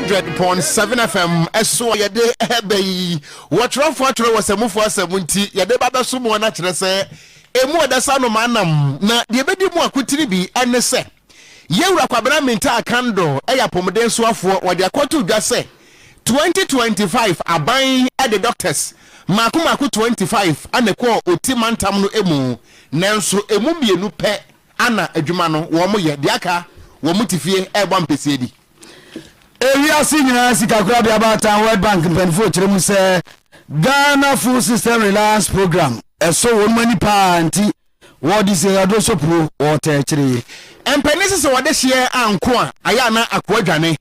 hundred point seven fm ɛso a yɛde ɛbɛ yi wɔtwerɛfoɔ atwerɛ wɔ sɛmufoɔ asɛm nti yɛde ba bɛso mu ɔna kyerɛ sɛ emu ɔdasa nom anam na deɛ ɛbɛdi mu akotiri bi ɛne sɛ yɛwura kwabena mintaa kando ɛyɛ apɔmuden soafoɔ wɔde akɔto dwa sɛ 2025 aban ɛde doctors mako mako 25 ɛna ɛkɔɔ oti mantam no emu nanso emu mmienu pɛ Ana adwuma no wɔn yɛ deɛ aka wɔn te fie ɛrebɔ ampesie di. Ewiase nyinaa sikakorabea baatan World Bank mpaninfoɔ kyerɛ mu sɛ Ghana Food System Reliance Programme ɛsɔ wɔn ani paa nti wɔde sikakaduro sɔ puo wɔtaa kyire. Mpanin se sɛ wɔde hyeɛ anko a ayɛ a na akoa dwane.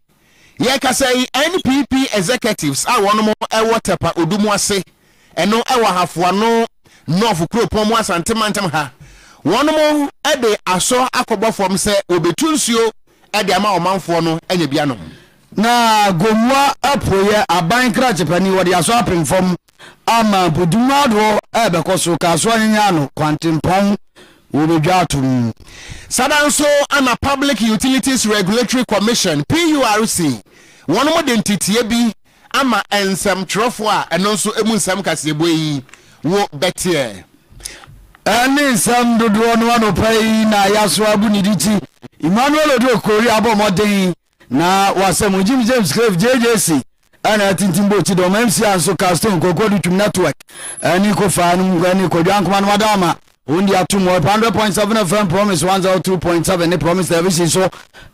Yɛkasa yi NPP executives a wɔnom wɔ Tɛpa Odu mu ase, ɛno wɔ Ahafoano North kuropɔn mu Asante mantam ha, wɔnom de asɔ akɔbɔ fam sɛ wɔbetu nsuo de ama ɔmanfoɔ no anya bi anom. Na Gomoa apueɛ aban krakyepani wɔde asɔ apem fam ama mpɔtam ahodoɔ a ɛbɛkɔ so kaa so anyanya ano kwantempɔn wɔ badwa ato mu. Saa da nso na Public Utilities Regulatory Commission, PURC, wɔnom de nteteɛ bi ama nsɛmtwerɛfoɔ a ɛno nso ɛmu nsɛm kaseɛbue yi wo bɛteɛ. Ɛne nsɛm dodoɔ no anɔpa yi na Ayaso Abu Niditi, Emmanuel Odoi Kori abɔ mmɔden Na wɔ asɛm ho, Jim James Craig, JJC, a na atintim bɔ ti dɔm MC a nso Carl Stone, Kwaku Adutwum Network, ne Kofaa nom ne Kwadwo Ankomah nom ada ama wɔn di atom wɔ 100.7 FM Promise 102.7 ne Promise Television so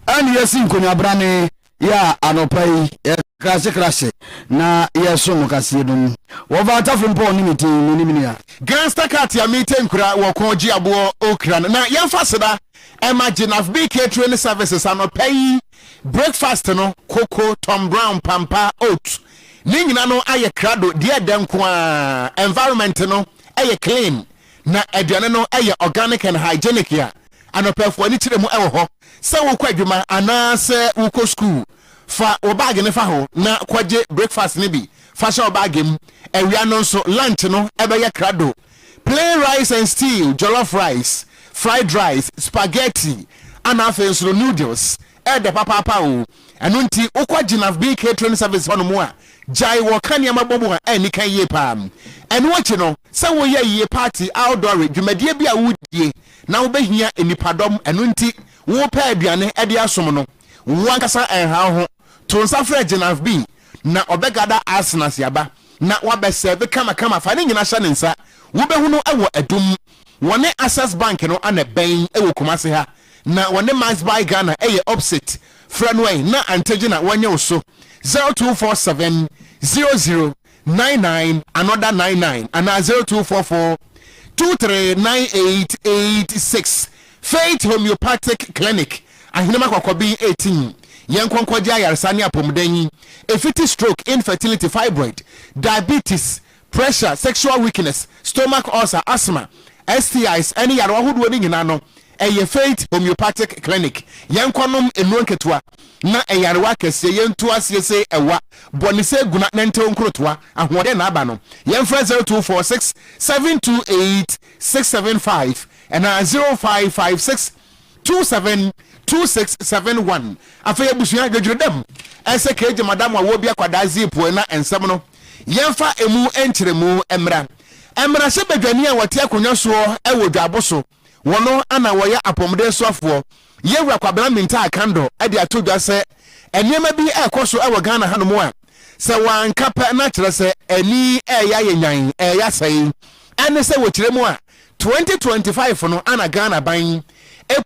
ɛne yɛsi nkonnwabrane yɛ a anɔpa yi yɛkrasekrase na yɛso mo kaseɛ no mu wɔfa atafo mpɔ ne metin menim nea Gangster cat a mete nkura wɔ kɔn gye aboɔ okra no na yɛmfa seda ɛma Jenaf Bee Catering Services anɔpa yi breakfast no, koko, Tom Brown, pampa, oat, ne nyina no ayɛ krado deɛ ɛdɛ nko ara, environment no yɛ clean na aduane no yɛ organic and hygienic a anɔpafo ani kyerɛ mu wɔ hɔ. Sɛ wokɔ adwuma anaa sɛ wokɔ sukuu, fa wo bag no fa hɔ na kɔgye breakfast no bi fa hyɛ wo bag mu. Awia no nso lunch no bɛyɛ krado. Plain rice and stew, jollof rice, fried rice, spaghetti, ɛna afei nso no noodles, ɛɛdɛ papaapa oo, ɛno nti wokɔ Gyinaf Bee Catering Service hɔ nom a, gyae wɔka nneɛma bɔ mu a ɛnni kan yie paa. Ɛno akyi no, sɛ woyɛ yie party, outdoore, dwumadie bi a woredie na wobɛhia nnipadɔm, ɛno nti wopɛ aduane de asom no, wo ankasa ɛnha wo ho. To nsa frɛ Genav bi na ɔbɛgada Arsen ase aba na wabɛ sɛɛve kama kama fa ne nyina hyɛ ne nsa wo bɛhu no wɔ adum wɔne Access bank no ana bɛn wɔ Kumase ha na wɔne Max buy Ghana ɛyɛ opposite frɛ no ɛ na antɛgye na wɔnyɛ wo so zero two four seven zero zero nine nine another nine nine anaa zero two four four two three nine eight eight six Faith Homeopathic Clinic Ahenema Kɔkɔben eighteen Yɛn nkɔnkɔgye ayaresa ne apɔmuden Efiti stroke infertility fibroid diabetes pressure sexual weakness stomach ulcer asthma STIs ɛne yarewa hodoɔ no nyinaa no Ɛyɛ Faith Homeopathic Clinic, yɛnkɔ nom nnuro nketewa na ɛyarewa akɛseɛ yɛntu aseɛ se ɛwa, bɔ ne se guna nɛntew nkorotoa ahoɔden na aba no, yɛmfrɛ zero two four six seven two eight six seven five anaa zero five five six two seven two six seven one Afei abusua, dwedweredam ɛsɛ kegye madam a wɔɔbi akwadaa ziipoe na nsɛm no yɛmfa emu nkyeremu mmra mmarahyɛbadwani a wɔte akonnwa soɔ wɔ dwaabo so. Wɔn na wɔyɛ apɔmuden soafoɔ. Yɛn Wura Kwabena Mintaah Kandor de ato dwa sɛ nneɛma bi rekɔ so wɔ Ghana hanom a sɛ wɔanka pɛ na kyerɛ sɛ ani reyɛ ayɛ nyan, reyɛ asɛe. Ɛne sɛ wɔ kyerɛ mu a, 2025 no ana Ghana ban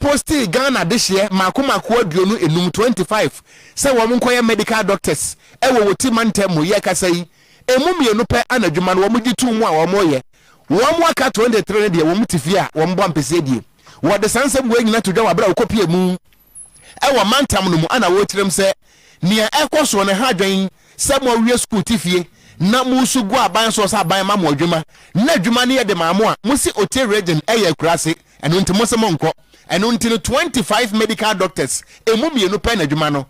postee Ghana dehyeɛ mmaako mmaako aduonu enum, 25, sɛ wɔn nkɔyɛ medical doctors wɔ wɔ ti mantam mu yɛrekasa yi Emu mmienu pɛ na adwuma no wɔgye to mu a wɔyɛ. Wɔn aka twenty three no deɛ, wɔte fie a wɔbɔ ampesie die. Wɔde saa nsɛm wei nyinaa to dwa wɔ bere a wɔkɔpue mu wɔ mantam no mu na wɔrekyerɛ mu sɛ, Nea ɛrekɔ so no, ha dwɛn sɛ moawie sukuu te fie na mo nso gu aban so sɛ aban ma mo adwuma na adwuma no yɛ de ma mo a. Mose Ote Region yɛ akuraase, ɛno nti mose monkɔ. Ɛno nti no, twenty five medical doctors, emu mmienu pɛ na adwuma no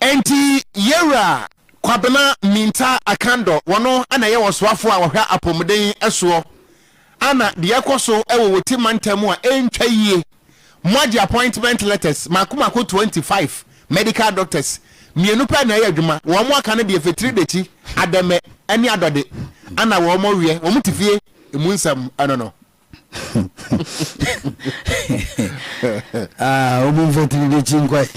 Enti Yewura Kwabena Mintah Akandɔ, wɔno na ɛyɛ ɔsoafoɔ a ɔhwɛ apɔmuden soɔ ana deɛ ɛkɔ so wɔ Woti mantam mu a ɛntwa yie, moagye appointment letters mako mako 25 medical doctors mmienu pɛ na ɛyɛ adwuma, wɔn aka no deɛ Fetiri Dekyi, Adɛmɛ ne Adɔde ana wɔn wiɛ, wɔn te fie emu nsɛm no no. ah, obi mfa tiri de kyi nkwae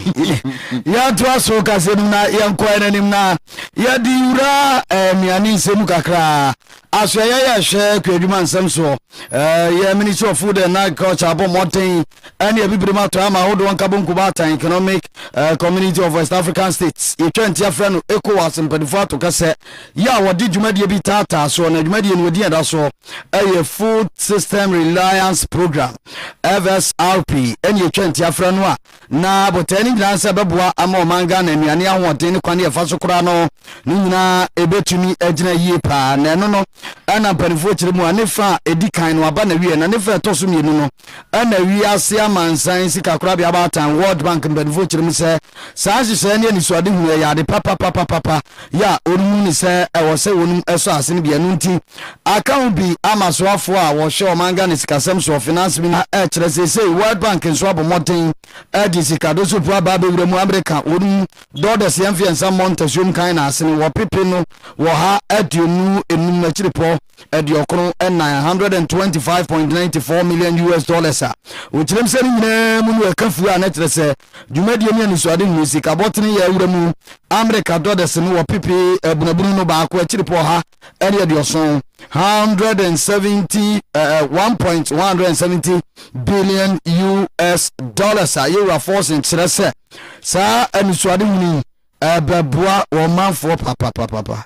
yɛntoa so kase no na yɛnkɔɛ no anim na yɛde wura eh, nnuane nsɛm kakraa aso ɛyɛ yɛ hwɛ kɔ adwuma nsɛm soɔ eh, yɛ ministry of food and agriculture abɔ mmɔden ɛne abibire mu atɔ ama ahodoɔ nkabɔ nkuba atan economic eh, community of west african states yɛtwa nti afrɛ no ecowas mpanimfoɔ ato kasɛ yɛ a wɔde dwumadie bi taataa soɔ na dwumadie no wɔdi ɛda soɔ yɛ Food System Reliance Programme, FSRP, ɛne ɛtwa ntia frɛ no a, na botae no nyinaa sɛ ɛbɛboa ama ɔman Ghana nnuane ahoɔden ne kwane ɛfa so koraa no ne nyinaa ɛbɛtumi agyina yie paa na ɛno no ɛna mpanimfoɔ kyerɛ mu a ne fa a ɛdi kan no aba na wie na ne fa ɛtɔ so mmienu no ɛna wiase amansan sikakorabea abaatan World Bank mpanimfoɔ kyerɛ mu sɛ saa nhyehyɛeɛ ne anisoadehunu ɛyɛ ade papapapapa yɛ a wɔnnu no sɛ ɛwɔ sɛ wɔnom sɔ ase no bi. Ɛno nti, aka ho bi ama asoafoɔ a wɔhwɛ ɔman Ghana sikasɛm soɔ, Finance Ministry, a ɛkyerɛ seesei World Bank nso abɔ mmɔden de sika dosofoɔ aba abɛwura mu amereka wɔnom dɔɔdɔs yɛ mfeɛnsa mmɔ ntasuom kan na asene wɔ pepe no wɔ ha aduonu enum no akyiripɔ aduɔkron ɛnan, one hundred and twenty five point nine four million US dollars a wɔkyerɛm sɛ ne nyinaa mu no ɛka fuo a na ɛkyerɛ sɛ Dwumadie ne anisoade nhunu sika bɔtene yɛ awura mu Amerika dɔdɛse no wɔ pepe abunabunu no baako akyiripɔ ɔha ne aduɔson, 170, eh, 1.170 billion US dollars a yɛwura Forsen kyerɛ sɛ saa anisoade hunu yi ɛbɛboa wɔn manfoɔ papapapapa.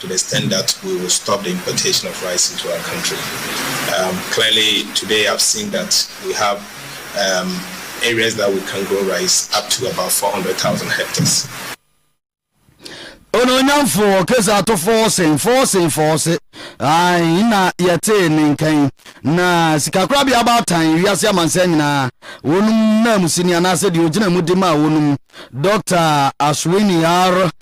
to the extent that we will stop the importation of rice into our country. Um, clearly, today I've seen that we have um, areas that we can grow rice up to about 400,000 hectares. ononyamfoɔ kesa ato fɔɔsen fɔɔsen fɔɔse ae na yɛtee ne nkan na sikakorabea baatan wiase amansan nyinaa wɔnom nam sini anaasɛ deɛ ɔgyina mu de ma wɔnom dr aswini r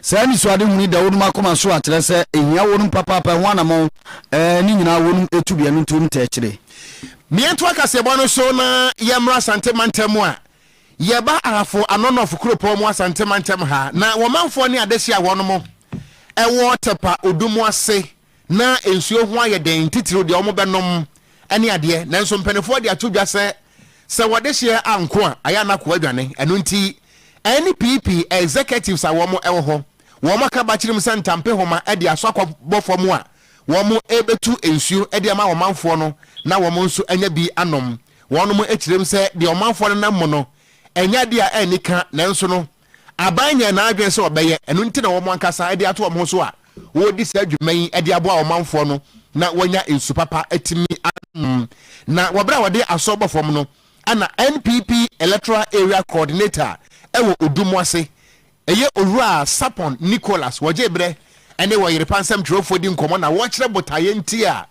Saa anisoadehunu yi da wɔnom akoma so a kyerɛ sɛ ehia wɔnom papaapa ɛho anamɔn ɛɛ ne nyinaa wɔnom tu biɛ no ntuo no tɛɛ kyerɛ. Miɛntoa kaseɛbɔ no so na yɛmmra Asante mantam mu a, yɛba Ahafo Anɔnɔf kuropɔn mu Asante mantam ha na wɔmanfoɔ ne adehye a wɔnom ɛwɔ Tɛpa Odu mu ase Ná nsuo ho ayɛ den, titiriw deɛ wɔbɛnom ne adeɛ. Nanso mpanimfoɔ de ato dwa sɛ, sɛ wɔde hyeɛ anko a, ayɛ a na akoa adwane. Ɛno nti, NPP executives a wɔwɔ hɔ, wɔaka bakyere mu sɛ ntampehoma de asɔ akɔbɔ fam a, wɔrebɛtu nsuo de ama ɔmanfoɔ no na wɔn nso anya bi anom. Wɔnom kyerɛm sɛ deɛ ɔmanfoɔ no nam mu no, ɛnyɛ adeɛ a anni ka, nanso no, aban nyɛ n'adwene sɛ ɔbɛyɛ, ɛno nti na wɔn ankasa de ato wɔn ho so a wɔredi saa dwuma yi de aboa wɔn manfoɔ no na wɔnya nsu papa atumi anom. Na wɔ berɛ a wɔde asɔ bɔ fam no, na NPP Electoral Area Coordinator wɔ Odu mu ase, ɛyɛ Owura Sapon Nicholas, wɔgyee berɛ ne wɔyere pansɛm twerɛfoɔ di nkɔmmɔ na wɔkyerɛ botaeɛ nti a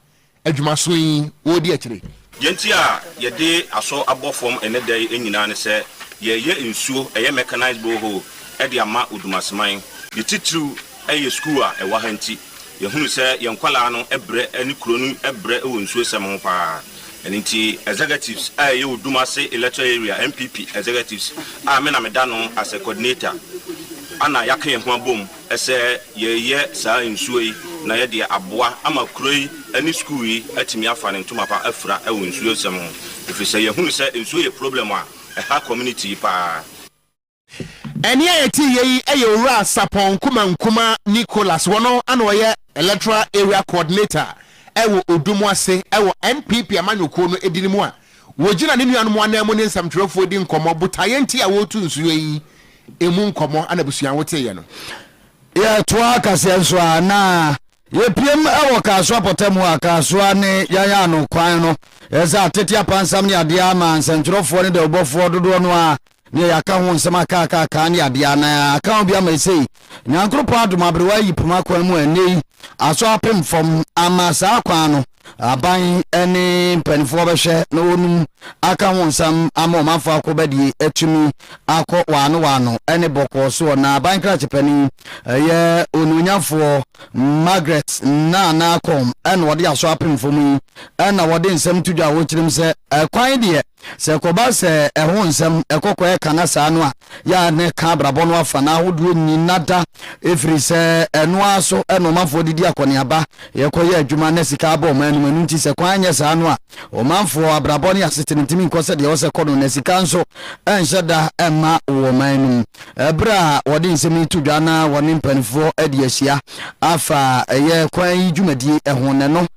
adwuma so yi wɔredi akyire. Deɛ nti a yɛde asɔ abɔ fam ɛnnɛ da yi nyinaa ne sɛ, yɛreyɛ nsuo, ɛyɛ mechanized borehole, de ama Odumaseman. Ne titiriw yɛ sukuu a ɛwɔ ha nti, yɛhunu sɛ yɛn nkwadaa no brɛ ne kuro no brɛ wɔ nsuosɛm ho pa ara. Ɛno nti, executives a ɛyɛ Odumase Electoral Area NPP executives a me na meda ano as a coordinator na yɛaka yɛn ho abom, Ɛsɛ yɛyɛ saa nsuo yi na yɛde aboa ama kuro yi ne sukuu yi atumi afa ne ntoma pa afira wɔ nsuo sɛm ho. Ɛfiri sɛ yɛhunu sɛ nsuo yɛ problem a ɛha community yi paa. Ɛnne a yɛtee yei yɛ Owura Sapon Nkumah Nkumah Nicholas, ɔno na ɔyɛ Electoral Area Coordinator wɔ Odumwase wɔ NPP amanyɔkuo no edini mu a wɔgyina ne nuanom ananmu ne nsɛmtwerɛfoɔ di nkɔmmɔ botaeɛ nti a wɔretu nsuo yi emu nkɔmmɔ ana abusua woteeɛ no. Yɛtoaa kaseɛ nso a na yɛpiem wɔ Kasoa pɔtam hɔ a Kasoa ne yɛn ano kwan no yɛ sɛ atete apansam ne adeɛ a ama nsɛntwerɛfoɔ ne dawubɔfoɔ dodoɔ no ara neɛ yɛaka ho nsɛm aka aka aka ne adeɛ a na aka ho bi ama ɛsei Nyankoropɔn adom aberewa ayi poma kwan mu a ɛnnɛ yi asɔ apem fam ama saa kwan no Aban ne mpanimfoɔ bɛhwɛ na wɔnum aka ho nsam ama ɔmanfoɔ akɔbadie atumi akɔ waano waano ne bɔkɔɔ soɔ. Na aban krakyepanin yɛ onuonyamfoɔ Margaret Nana Akom na ɔde asɔ apemfam yi na ɔde nsɛm to dwa a ɔkyerɛm sɛ, Kwan deɛ Sɛ ɛkɔba sɛ ɛho nsɛm, ɛkɔkɔ a ɛka n'asaa no a, yɛ ara na ɛka abrabɔ no afa no ahodoɔ nyina da, ɛfiri sɛ ɛno ara so na ɔmanfoɔ de di akɔneaba, yɛkɔ yɛ adwuma na sika abɔ ɔman anim, ɛno nti sɛ kwan nyɛ saa no a, ɔmanfoɔ abrabɔ ne asetena ntumi nkɔ sɛdeɛ ɛwɔ sɛ kɔ no, na sika nso nhyɛ da mma wɔ ɔman no mu. Berɛ a wɔde nsɛm yi to dwa na wɔne mpaninfoɔ adi ahyia afa ɛyɛ kwan yi dwumadie ho no, ɛno.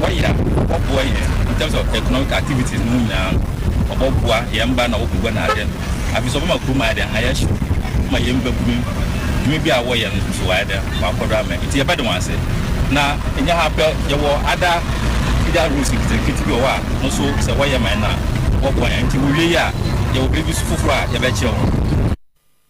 Wɔyɛ a wɔboa yɛn in terms of economic activities no mu nyinaa no, wɔbɔboa yɛn mba na wɔbɔbua na adɛ no. Afei so wɔbɛma kurom ayɛ dɛn? Ayɛ hyew. Wɔbɛma yɛn mbabun dwuma bi a wɔyɛ no so wɔayɛ dɛn? Wɔakɔ do amɛ. Ntsi yɛbɛda hɔn ase. Na nnyɛ ha pɛ, yɛwɔ other feeder roads nketenkete bi wɔ hɔ a no so sɛ wɔyɛ ma hɛn a wɔbɔboa hɛn. Ntsi wowie yi a yɛwɔ biribi so fofor a yɛbɛkyerɛ hɔn.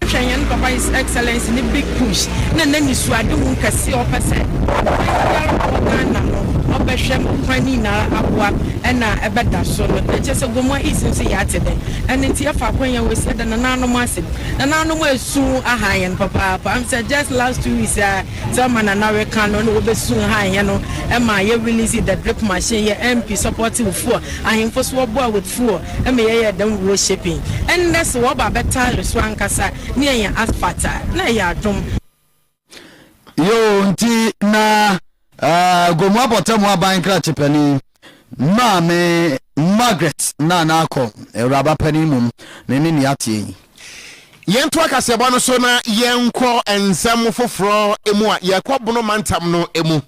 Hwɛ Hɛn Papa His Excellency ne Big Push na n'Enisuadehu kɛse a ɔpɛ sɛ ɔbɔfua biara a ɔwɔ Ghana no ɔbɛhwɛ ma kwan ne nyinara aboa na ɛbɛda so no. Nkyɛ sɛ Gomoa East nso yɛatse dɛn? Ɛno ntsi yɛfa akwannya wei so yɛda nanaanom ase. Nanaanom esu haa hɛn papaapa. Am sɛ just last two weeks a sɛ ɔma Nana reka no nna wobesu haa hɛn no ma yɛ release the drip machine, yɛ MP supportive foɔ, ahemfo so wɔboa wɔ foɔ ma yɛ yɛ dɛm wɔ shaping ɛnnɛ sɛ wɔ ba bɛ tare so ankasa ne yɛ yɛ asphalt a na ɛyɛ adom. Yoo nti na uh, Gomu Abɔtamu Aban Nkrakye Panin Maame Margaret Nana Akɔ Awuraba Panin Mum ne ne nea ateɛ yi. Yɛntoa kaseɛbɔ no so na yɛnkɔ nsɛm foforɔ mu a yɛkɔ Bono mantam no mu.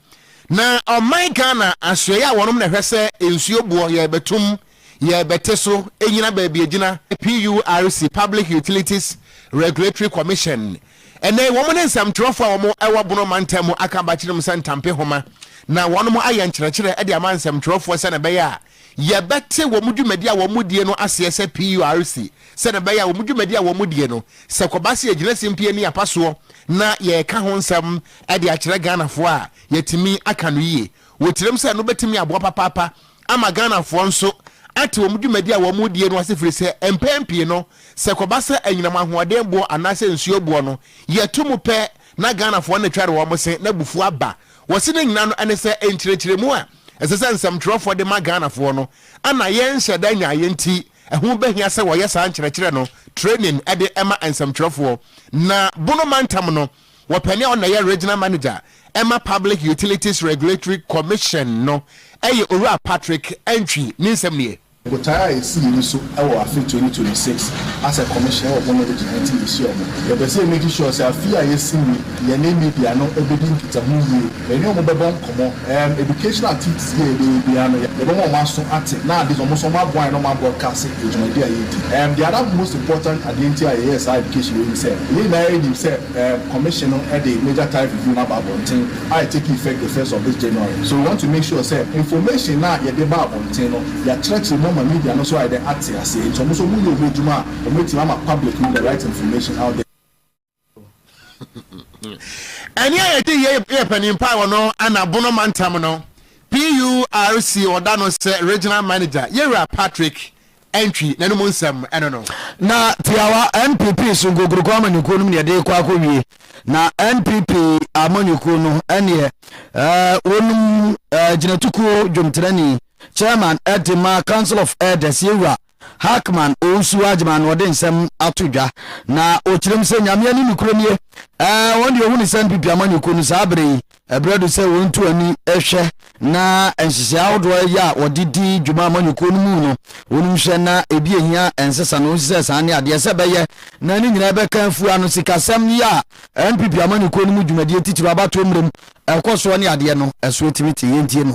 Na ɔman Ghana asoɛeɛ a wɔnom na ɛhwɛ sɛ nsuo boɔ yɛrebɛtom, yɛrebɛte so, ɛnyina baabi ɛgyina, PURC, Public Utilities Regulatory Commission, ɛnnɛ yi wɔn ne nsɛmtwerɛfoɔ a wɔn wɔ Bono mantam mu aka abakyerɛm sɛ ntampe nhoma na wɔnom ayɛ nkyerɛkyerɛ de ama nsɛmtwerɛfoɔ sɛdeɛ ɛbɛyɛ a yɛbɛte wɔn dwumadie a wɔn die no aseɛ sɛ PURC sɛdeɛ ɛbɛyɛ a wɔn dwumadie a wɔn die no sɛ kɔba sɛ yɛgyina simpie ne apasoɔ na yɛreka ho nsɛm de akyerɛ Ghanafoɔ a yɛatumi aka no yie wɔ tirim sɛ no bɛtumi aboa papaapa ama Ghanafoɔ nso ate wɔn dwumadi a wɔredie no ase firi sɛ mpɛn pii no sɛ kɔba sɛ anyinam ahoɔden boɔ anaasɛ nsuo boɔ no yɛto mu pɛ na Ghanafoɔ no twɛre wɔn se na abufuo aba wɔ se ne nyina no ɛne sɛ nkyerɛkyerɛmu a ɛsɛ sɛ nsɛmtwerɛfoɔ de ma Ghanafoɔ no ana yɛnhyɛ da nyaeɛ nti ɛho bɛhia sɛ wɔyɛ saa nkyerɛkyerɛ no training de ma nsɛmtwerɛfoɔ na Bono mantam no Wɔpanin a ɔna yɛ Regional Manager ma Public Utilities Regulatory Commission no yɛ Owura Patrick Antwi, ne nsɛm nie. Botae a yɛsi yɛni so wɔ afe twenty twenty six as a commission wɔ bɔn a ɛbɛgyina yɛn nti yɛhyia ɔmo. Yɛpɛ sɛ yɛ make sure sɛ afe yi a yɛsi mu yi yɛne media no bɛdi nkitaho yie. Yɛne wɔn bɛbɔ nkɔmmɔ. Erm educational activities bi a yɛbɛyɛ biara no, yɛbɛma wɔn aso ate na ade nso wɔn nso wɔaboa yɛn na wɔabroadcase yɛn dwumadi a yɛredi. Erm the other most important adeɛ nti a yɛyɛɛ saa education wei ne sɛ, yɛn nyinaa yɛnim sɛ erm Commission no de Major Tariff Review no aba abɔnten a it take effect the first of this January. So we want to make sure sɛ information no a yɛde ba abɔnten no, yɛakyerɛkyerɛ mu ama media no nso ayɛ dɛn ate aseɛ nti wɔn nso wɔyɛ wɔn adwuma a wɔatumi ama public no the right information out there. Ɛne a yɛde yɛ yɛ panin paa wɔ no ɛna Bono mantam no PURC ɔda no sɛ regional manager yɛwura Patrick Antwi n'anom nsɛm ɛno no. Na tiawa NPP so nkokuroko amanyɔkuo no mu na yɛde kɔ akɔwie na NPP amanyɔkuo no ɛneɛ ɛɛ wɔnom ɛɛ gyinatukuo dwomtenani chairman ɛde ma Council of Elders yɛwura Hackman Owusu-Agyemang na ɔde nsɛm ato dwa na ɔkyerɛ mu sɛ Nyamea ne nokorɛ nie. Ɛɛ, wɔn deɛ ɔhu ne sɛ NPP amanyɔkuo no saa berɛ yi ɛberɛ do sɛ wɔn tu ani hwɛ na nhyehyɛe ahodoɔ a ɛyɛ a wɔde di dwuma amanyɔkuo no mu no wɔn hwɛ na ebi ehia ɛnsesa no nsesɛ saa ne adeɛ sɛ bɛyɛ na ne nyinaa bɛka afua no sikasɛm yi a NPP amanyɔkuo no mu dwumadie titiriw abatoɔ mmerɛ mu ɛkɔ soɔ ne adeɛ no ɛso etimi te yɛntie no.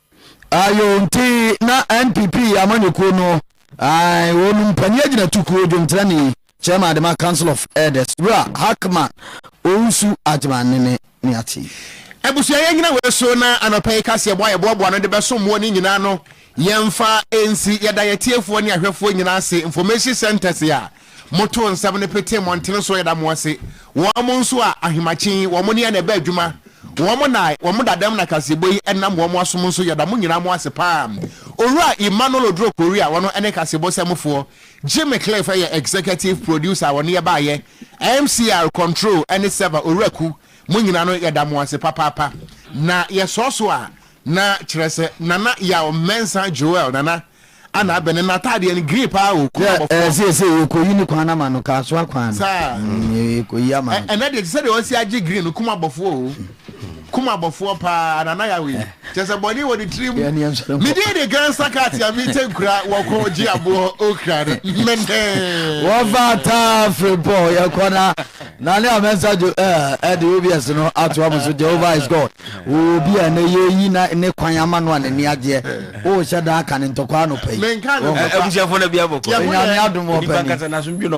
Ayo nti na NPP amanyɔkuo no ae wɔn mpanin agyinatukuo dwomtrani Chairman Adema Council of Elders Wura Hackman Owusu Agyman ne ne ne ate yi. Abusua yɛnyina wei so na anɔpa yi kaseɛbɔ a yɛboaboa no de bɛsom mo ne nyinaa no yɛmfa nsi yɛda yɛtiefoɔ ne ahwɛfoɔ nyinaa ase information centres a Moto nsɛm no pete mmɔntene so da mo ase, wɔn nso a ahemakye yi wɔn ne yɛn na ɛbɛ adwuma, wɔn na wɔn dadam na kaseɛbɔ yi ɛnam wɔn asom nso yɛda mo nyinaa mo ase paa. Owura Emmanuel Oduro Korea a ɔno ne kaseɛbɔ sɛmfoɔ, Jimmy Cliff ɛyɛ Executive Producer a ɔne yɛ baeɛ, MCR, Control ɛne Server, Owura Ku, mo nyinaa no yɛda mo ase papaapa. Na yɛsɔɔso a na kyerɛ sɛ Nana Yaw Mensah Joel, Nana, A na abɛn no n'ataadeɛ no green paa o kɔn abɔ fɔm. Yɛ ɛsɛ sɛ yɛ kɔ yi ne kwan ama no kaa so akwan no. Saa. Yɛ kɔ yi ama no. Ɛnɛ deɛ te sɛ deɛ ɔsi agye green no kɔn abɔ foɔ o kɔn abɔ foɔ paa na na yɛ awe yi kyɛ sɛ bɔnee wɔ ne tirim. Me din de gansa cat a me tɛ nkura wɔ kɔ gye aboɔ okra no mɛnɛɛ. Wɔfa ataa firi pɔ yɛ kɔ na Na nea me nsa gye eh, de obs no atoa mo so, Jehovah is God. Wowɔ obi a ɛnnɛ yɛreyi na ne kwan ama no a n'ani agyeɛ. Worehyɛ da aka ne ntɔkwa anɔpa yi. Abusuafoɔ na bia bɔkɔ. Onyame adom wɔ pɛ